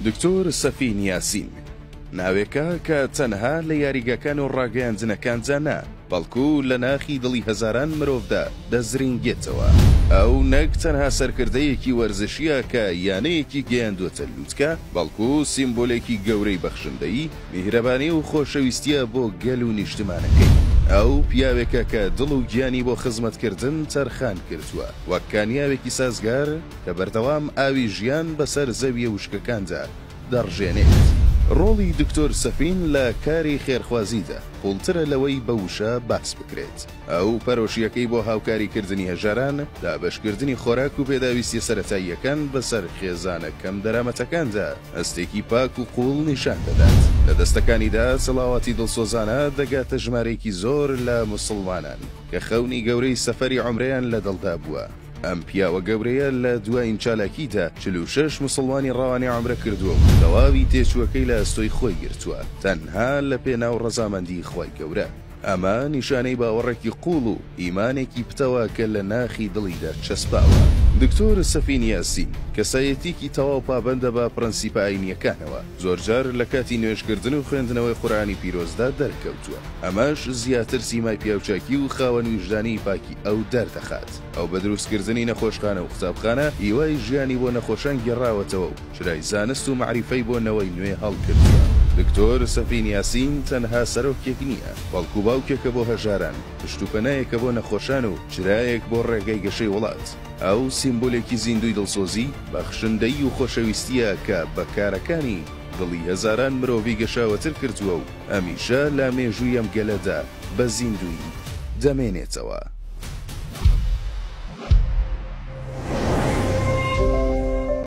دکتۆر سەفین یاسین، ناوێکە کە تەنها لە یاریگاکان و ڕاگەیاندنەکاندا نا، بەڵکو لە ناخی دڵی هەزاران مرۆڤدا دەزرینگێتەوە. ئەو نەک تەنها سەرکردەیەکی وەرزشییە کە یانەیەکی گەیاندووەتە لووتکە، بەڵکو سیمبولێکی گەورەی بەخشندەیی، میهرەبانی و خۆشەویستییە بۆ گەل و نیشتمانەکەی. ئەو پیاوێکە کە دڵ و گیانی بۆ خزمەتکردن تەرخان کردووە، وەک کانیاوێکی سازگار، کە بەردەوام ئاوی ژیان بەسەر زەوییە وشکەکاندا دەڕژێنێت. ڕۆڵی دکتۆر سەفین لە کاری خێرخوازیدا قووڵترە لەوەی بە وشە باس بکرێت. ئەو پەرۆشییەکەی بۆ هاوکاریکردنی هەژاران، دابەشکردنی خۆراک و پێداویستییە سەرەتاییەکان بەسەر خێزانە کەمدەرامەتەکاندا، هەستێکی پاک و قووڵ نیشان دەدات. لە دەستەکانیدا سەڵاواتی دڵسۆزانە دەگاتە ژمارەیەکی زۆر لە موسڵمانان، کە خەونی گەورەی سەفەری عومرەیان لە دڵدا بووە. ئەم پیاوە گەورەیە لە دوایین چالاکییدا چل و شەش موسڵمانی ڕەوانەی عەمرە کردووە و تەواوی تێچووەکەی لە ئەستۆی خۆی گرتووە تەنها لە پێناو ڕەزامەندیی خوای گەورە. ئەمە نیشانەی باوەڕێکی قووڵ و ئیمانێکی پتەوە کە لە ناخی دڵیدا چەسپاوە. دکتۆر سەفین یاسین، کەسایەتییەکی تەواو پابەندە بە پڕەنسیپە ئایینییەکانەوە، زۆرجار لە کاتی نوێژکردن و خوێندنەوەی قورئانی پیرۆزدا دەرکەوتووە، ئەمەش زیاتر سیمای پیاوچاکی و خاوەن ویژدانیی پاکی ئەو دەردەخات. ئەو بە دروستکردنی نەخۆشخانە و قوتابخانە هیوای ژیانی بۆ نەخۆشان گێڕاوەتەوە و چرای زانست و مەعریفەی بۆ نەوەی نوێ هەڵکردووە. دکتۆر سەفین یاسین تەنها سەرۆکێک نییە، بەڵکو باوکێکە بۆ هەژاران، پشت و پەنایەکە بۆ نەخۆشان و چرایەک بۆ ڕێگەی گەشەی وڵات. ئەو سیمبولێکی زیندووی دڵسۆزی، بەخشندەیی و خۆشەویستییە کە بە کارەکانی دڵی هەزاران مرۆڤی گەشاوەتر کردووە و هەمیشە لە مێژووی ئەم گەلەدا بە زیندوویی دەمێنێتەوە.